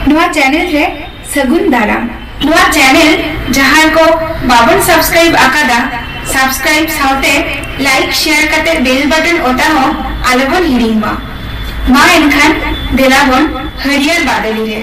ᱱᱚᱣᱟ ᱪᱮᱱᱮᱞ ᱨᱮ ᱥᱟᱹᱜᱩᱱ ᱫᱟᱨᱟᱢ ᱱᱚᱣᱟ ᱪᱮᱱᱮᱞ ᱡᱟᱦᱟᱸᱭ ᱠᱚ ᱵᱟᱵᱚᱱ ᱥᱟᱵᱥᱠᱨᱟᱭᱤᱵ ᱟᱠᱟᱫᱟ ᱥᱟᱵᱥᱠᱨᱟᱭᱤᱵ ᱥᱟᱶᱛᱮ ᱞᱟᱭᱤᱠ ᱥᱮᱭᱟᱨ ᱠᱟᱛᱮ ᱵᱮᱞ ᱵᱟᱴᱚᱱ ᱚᱛᱟ ᱦᱚᱸ ᱟᱞᱚᱵᱚᱱ ᱦᱤᱲᱤᱧ ᱢᱟ ᱢᱟ ᱮᱱᱠᱷᱟᱱ ᱫᱮᱞᱟ ᱵᱚᱱ ᱦᱟᱹᱨᱭᱟᱹᱲ ᱵᱟᱫᱚᱞᱤ ᱨᱮ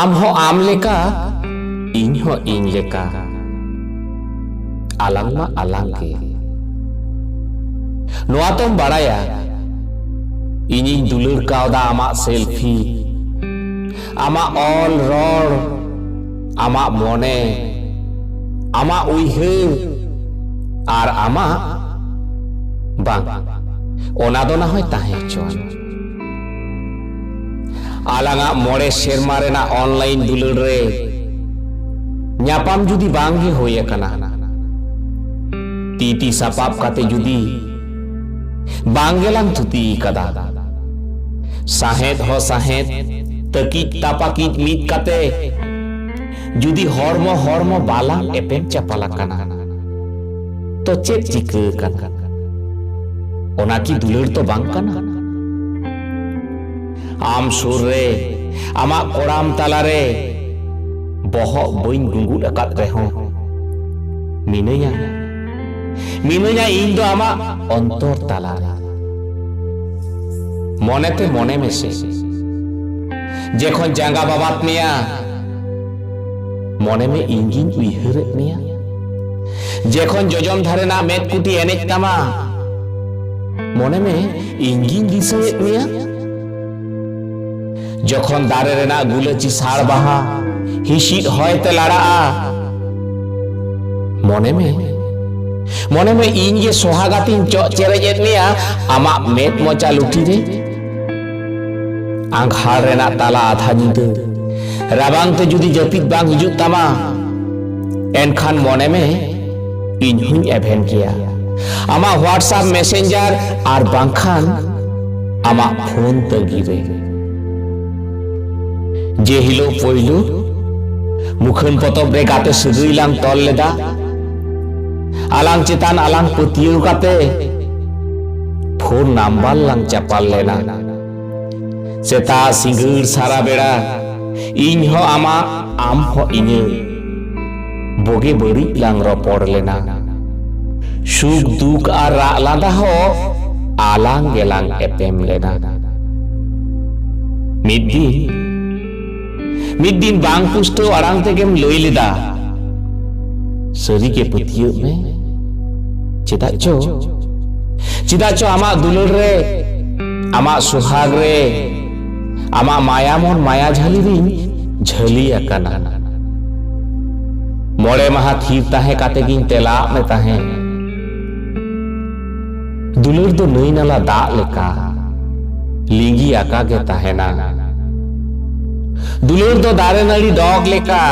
ᱟᱢ ᱦᱚᱸ ᱟᱢ ᱞᱮᱠᱟ ᱤᱧ ᱦᱚᱸ ᱤᱧ ᱞᱮᱠᱟ ᱟᱞᱟᱝ ᱢᱟ ᱟᱞᱟᱝ ᱜᱮ ᱱᱚᱣᱟ ᱛᱚᱢ ᱵᱟᱲᱟᱭᱟ ᱤᱧᱤᱧ ᱫᱩᱞᱟᱹᱲ ᱠᱟᱣᱫᱟ ᱟᱢᱟᱜ ᱥᱮᱞᱯᱷᱤ ᱟᱢᱟᱜ ᱚᱞ ᱨᱚᱲ ᱟᱢᱟᱜ ᱢᱚᱱᱮ ᱟᱢᱟᱜ ᱩᱭᱦᱟᱹᱨ ᱟᱨ ᱟᱢᱟᱜ ᱵᱟᱝ ᱚᱱᱟ ᱫᱚ ᱱᱟᱦᱚᱭ ᱛᱟᱦᱮᱸ ᱦᱚᱪᱚᱣᱟᱱ ᱟᱞᱟᱝᱟᱜ ᱢᱚᱬᱮ ᱥᱮᱨᱢᱟ ᱨᱮᱱᱟᱜ ᱚᱱᱞᱟᱭᱤᱱ ᱫᱩᱞᱟᱹᱲ ᱨᱮ ᱧᱟᱯᱟᱢ ᱡᱩᱫᱤ ᱵᱟᱝ ᱜᱮ ᱦᱩᱭ ᱟᱠᱟᱱᱟ ᱛᱤ ᱛᱤ ᱥᱟᱯᱟᱵ ᱠᱟᱛᱮ ᱡᱩᱫᱤ ᱵᱟᱝ ᱜᱮᱞᱟᱝ ᱛᱷᱩᱛᱤ ᱟᱠᱟᱫᱟ ᱥᱟᱦᱮᱫ ᱦᱚᱸ ᱥᱟᱦᱮᱫ ᱛᱟᱹᱠᱤᱡ ᱛᱟᱯᱟᱠᱤᱡ ᱢᱤᱫ ᱠᱟᱛᱮ ᱡᱩᱫᱤ ᱦᱚᱲᱢᱚ ᱦᱚᱲᱢᱚ ᱵᱟᱞᱟᱝ ᱮᱯᱮᱢ ᱪᱟᱯᱟᱞ ᱟᱠᱟᱱᱟ ᱛᱚ ᱪᱮᱫ ᱪᱤᱠᱟᱹ ᱟᱠᱟᱱᱟ ᱚᱱᱟ ᱠᱤ ᱫᱩᱞᱟᱹᱲ ᱫᱚ ᱵᱟᱝ ᱠᱟᱱᱟ ᱟᱢ ᱥᱩᱨ ᱨᱮ ᱟᱢᱟᱜ ᱠᱚᱲᱟᱢ ᱛᱟᱞᱟᱨᱮ ᱵᱚᱦᱚᱜ ᱵᱟᱹᱧ ᱜᱩᱸᱜᱩᱫ ᱟᱠᱟᱫ ᱨᱮᱦᱚᱸ ᱢᱤᱱᱟᱹᱧᱟ ᱢᱤᱱᱟᱹᱧᱟ ᱤᱧ ᱫᱚ ᱟᱢᱟᱜ ᱚᱱᱛᱚᱨ ᱛᱟᱞᱟᱨᱮ ᱢᱚᱱᱮᱛᱮ ᱢᱚᱱᱮ ᱢᱮᱥᱮ ᱡᱮᱠᱷᱚᱱ ᱡᱟᱸᱜᱟ ᱵᱟᱵᱟᱛ ᱢᱮᱭᱟ ᱢᱚᱱᱮ ᱢᱮ ᱤᱧ ᱜᱤᱧ ᱩᱭᱦᱟᱹᱨᱮᱫ ᱢᱮᱭᱟ ᱡᱮᱠᱷᱚᱱ ᱡᱚᱡᱚᱢ ᱫᱷᱟᱨᱮ ᱨᱮᱱᱟᱜ ᱢᱮᱫ ᱠᱩᱴᱤ ᱮᱱᱮᱡ ᱛᱟᱢᱟ ᱢᱚᱱᱮ ᱢᱮ ᱤᱧ ᱜᱤᱧ ᱫᱤᱥᱟᱹᱭᱮᱫ ᱢᱮᱭᱟ ᱡᱚᱠᱷᱚᱱ ᱫᱟᱨᱮ ᱨᱮᱱᱟᱜ ᱜᱩᱞᱟᱹᱪᱤ ᱥᱟᱲ ᱵᱟᱦᱟ ᱦᱤᱥᱤᱫ ᱦᱚᱭ ᱛᱮ ᱞᱟᱲᱟᱜᱼᱟ ᱢᱚᱱᱮ ᱢᱮ ᱢᱚᱱᱮ ᱢᱮ ᱤᱧ ᱜᱮ ᱥᱚᱦᱟᱜᱟᱛᱤᱧ ᱪᱚᱜ ᱪᱮᱨᱮᱡ ᱮᱫ ᱢᱮᱭᱟ ᱟᱢᱟᱜ ᱢᱮᱫ ᱢᱚᱪᱟ ᱞᱩᱴᱤ ᱨᱮ ᱟᱸᱜᱷᱟᱲ ᱨᱮᱱᱟᱜ ᱛᱟᱞᱟ ᱟᱫᱷᱟ ᱧᱤᱫᱟᱹ ᱨᱟᱵᱟᱝ ᱛᱮ ᱡᱩᱫᱤ ᱡᱟᱹᱯᱤᱫ ᱵᱟᱝ ᱦᱤᱡᱩᱜ ᱛᱟᱢᱟ ᱮᱱᱠᱷᱟᱱ ᱢᱚᱱᱮ ᱢᱮ ᱤᱧ ᱦᱚᱧ ᱮᱵᱷᱮᱱ ᱜᱮᱭᱟ ᱟᱢᱟᱜ ᱦᱳᱣᱟᱴᱥᱟᱯ ᱢᱮᱥᱮᱧᱡᱟᱨ ᱟᱨ ᱵᱟᱝᱠᱷᱟᱱ ᱟᱢᱟᱜ ᱯᱷᱳᱱ ᱛᱟᱹᱜᱤ ᱨᱮ ᱡᱮ ᱦᱤᱞᱳᱜ ᱯᱳᱭᱞᱳ ᱢᱩᱠᱷᱟᱹᱱ ᱯᱚᱛᱚᱵ ᱨᱮ ᱜᱟᱛᱮ ᱥᱟᱹᱜᱟᱹᱭ ᱞᱟᱝ ᱛᱚᱞ ᱞᱮᱫᱟ ᱟᱞᱟᱝ ᱪᱮᱛᱟᱱ ᱟᱞᱟᱝ ᱯᱟᱹᱛᱭᱟᱹᱣ ᱠᱟᱛᱮ ᱯᱷᱳᱱ ᱱᱟᱢᱵᱟᱨ ᱞᱟᱝ ᱪᱟᱯᱟᱞ ᱞᱮᱱᱟ ᱥᱮᱛᱟ ᱥᱤᱸᱜᱟᱹᱲ ᱥᱟᱨᱟ ᱵᱮᱲᱟ ᱤᱧ ᱦᱚᱸ ᱟᱢᱟᱜ ᱟᱢ ᱦᱚᱸ ᱤᱧᱟᱹᱜ ᱵᱚᱜᱮ ᱵᱟᱹᱲᱤᱡ ᱞᱟᱝ ᱨᱚᱯᱚᱲ ᱞᱮᱱᱟ ᱥᱩᱠ ᱫᱩᱠ ᱟᱨ ᱨᱟᱜ ᱞᱟᱸᱫᱟ ᱦᱚᱸ ᱟᱞᱟᱝ ᱜᱮᱞᱟᱝ ᱮᱯᱮᱢ ᱞᱮᱱᱟ ᱢᱤᱫ ᱫᱤᱱ ᱢᱤᱫ ᱫᱤᱱ ᱵᱟᱝ ᱯᱩᱥᱴᱟᱹᱣ ᱟᱲᱟᱝ ᱛᱮᱜᱮᱢ ᱞᱟᱹᱭ ᱞᱮᱫᱟ ᱥᱟᱹᱨᱤᱜᱮ ᱯᱟᱹᱛᱭᱟᱹᱜ ᱢᱮ ᱪᱮᱫᱟᱜ ᱪᱚ ᱪᱮᱫᱟᱜ ᱪᱚ ᱟᱢᱟᱜ ᱫᱩᱞᱟᱹᱲ ᱨᱮ ᱟᱢᱟᱜ ᱥᱩᱦᱟᱜ ᱨᱮ ᱟᱢᱟᱜ ᱢᱟᱭᱟ ᱢᱚᱱ ᱢᱟᱭᱟ ᱡᱷᱟᱹᱞᱤ ᱨᱤᱧ ᱡᱷᱟᱹᱞᱤ ᱟᱠᱟᱱᱟ ᱢᱚᱬᱮ ᱢᱟᱦᱟ ᱛᱷᱤᱨ ᱛᱟᱦᱮᱸ ᱠᱟᱛᱮ ᱜᱤᱧ ᱛᱮᱞᱟᱜ ᱢᱮ ᱛᱟᱦᱮᱸ ᱫᱩᱞᱟᱹᱲ ᱫᱚ ᱱᱟᱹᱭ ᱱᱟᱞᱟ ᱫᱟᱜ ᱞᱮᱠᱟ ᱞᱤᱸᱜᱤ ᱟᱠᱟ ᱜᱮ ᱛᱟᱦᱮᱱᱟ ᱫᱩᱞᱟᱹᱲ ᱫᱚ ᱫᱟᱨᱮ ᱱᱟᱹᱲᱤ ᱰᱚᱜᱽ ᱞᱮᱠᱟ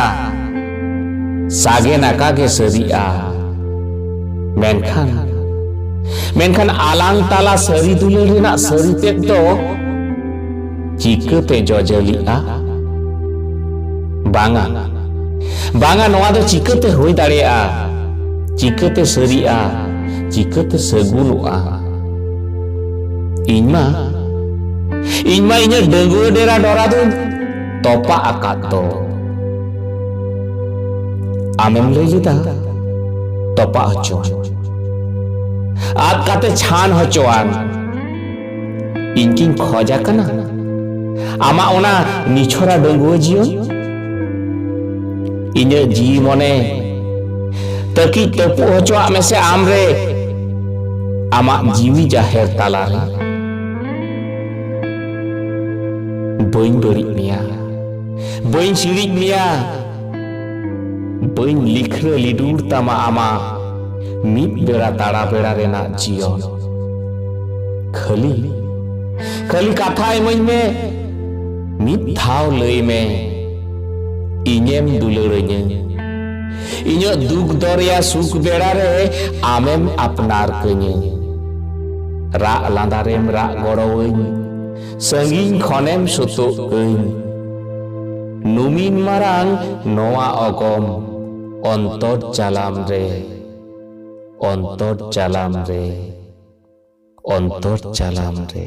ᱥᱟᱜᱮᱱ ᱟᱠᱟ ᱜᱮ ᱥᱟᱹᱨᱤᱜᱼᱟ ᱢᱮᱱᱠᱷᱟᱱ ᱢᱮᱱᱠᱷᱟᱱ ᱟᱞᱟᱝ ᱛᱟᱞᱟ ᱥᱟᱹᱨᱤ ᱫᱩᱞᱟᱹᱲ ᱨᱮᱱᱟᱜ ᱥᱟᱹᱨᱤ ᱛᱮᱫ ᱫᱚ ᱪᱤᱠᱟᱹ ᱯᱮ ᱡᱚᱡᱟᱹᱞᱤᱜᱼᱟ ᱵᱟᱝᱟ ᱵᱟᱝᱟ ᱱᱚᱣᱟ ᱫᱚ ᱪᱤᱠᱟᱹᱛᱮ ᱦᱩᱭ ᱫᱟᱲᱮᱭᱟᱜᱼᱟ ᱪᱤᱠᱟᱹᱛᱮ ᱥᱟᱹᱨᱤᱜᱼᱟ ᱪᱤᱠᱟᱹᱛᱮ ᱥᱟᱹᱜᱩᱱᱚᱜᱼᱟ ᱤᱧ ᱢᱟ ᱤᱧ ᱢᱟ ᱤᱧᱟᱹᱜ ᱰᱟᱹᱝᱜᱩᱣᱟᱹ ᱰᱮᱨᱟ ᱰᱚᱨᱟ ᱫᱚᱧ ᱛᱚᱯᱟᱜ ᱟᱠᱟᱫ ᱫᱚ ᱟᱢᱮᱢ ᱞᱟᱹᱭ ᱞᱮᱫᱟ ᱛᱚᱯᱟᱜ ᱦᱚᱪᱚᱣᱟᱱ ᱟᱫ ᱠᱟᱛᱮ ᱪᱷᱟᱱ ᱦᱚᱪᱚᱣᱟᱱ ᱤᱧ ᱠᱤᱧ ᱠᱷᱚᱡ ᱟᱠᱟᱱᱟ ᱟᱢᱟᱜ ᱚᱱᱟ ᱱᱤᱪᱷᱚᱨᱟ ᱰᱟᱺᱜᱩᱣᱟᱹ ᱡᱤᱭᱚᱱ ᱤᱧᱟᱹᱜ ᱡᱤᱣᱤ ᱢᱚᱱᱮ ᱛᱟᱹᱠᱤᱡ ᱛᱟᱹᱯᱩᱜ ᱦᱚᱪᱚᱣᱟᱜ ᱢᱮᱥᱮ ᱟᱢ ᱨᱮ ᱟᱢᱟᱜ ᱡᱤᱣᱤ ᱡᱟᱦᱮᱨ ᱛᱟᱞᱟᱨᱮ ᱵᱟᱹᱧ ᱵᱟᱹᱲᱤᱡ ᱢᱮᱭᱟ ᱵᱟᱹᱧ ᱥᱤᱲᱤᱡ ᱢᱮᱭᱟ ᱵᱟᱹᱧ ᱞᱤᱠᱷᱨᱟᱹ ᱞᱤᱰᱩᱨ ᱛᱟᱢᱟ ᱟᱢᱟᱜ ᱢᱤᱫ ᱵᱮᱲᱟ ᱛᱟᱲᱟ ᱵᱮᱲᱟ ᱨᱮᱱᱟᱜ ᱡᱤᱭᱚᱱ ᱠᱷᱟᱹᱞᱤ ᱠᱷᱟᱹᱞᱤ ᱠᱟᱛᱷᱟ ᱤᱢᱟᱹᱧ ᱢᱮ ᱢᱤᱫ ᱫᱷᱟᱣ ᱞᱟᱹᱭ ᱢᱮ ᱤᱧᱮᱢ ᱫᱩᱞᱟᱹᱲᱟᱹᱧᱟᱹ ᱤᱧᱟᱹᱜ ᱫᱩᱠ ᱫᱚᱨᱭᱟ ᱥᱩᱠ ᱵᱮᱲᱟ ᱨᱮ ᱟᱢᱮᱢ ᱟᱯᱱᱟᱨ ᱠᱟᱹᱧᱟᱹ ᱨᱟᱜ ᱞᱟᱸᱫᱟ ᱨᱮᱢ ᱨᱟᱜ ᱜᱚᱲᱚᱣᱟᱹᱧ ᱥᱟᱺᱜᱤᱧ ᱠᱷᱚᱱᱮᱢ ᱥᱩᱛᱩᱜ ᱟᱹᱧ ᱱᱩᱢᱤᱱ ᱢᱟᱨᱟᱝ ᱱᱚᱣᱟ ᱚᱜᱚᱢ ᱚᱱᱛᱚᱨ ᱪᱟᱞᱟᱢ ᱨᱮ ᱚᱱᱛᱚᱨ ᱪᱟᱞᱟᱢ ᱨᱮ ᱚᱱᱛᱚᱨ ᱪᱟᱞᱟᱢ ᱨᱮ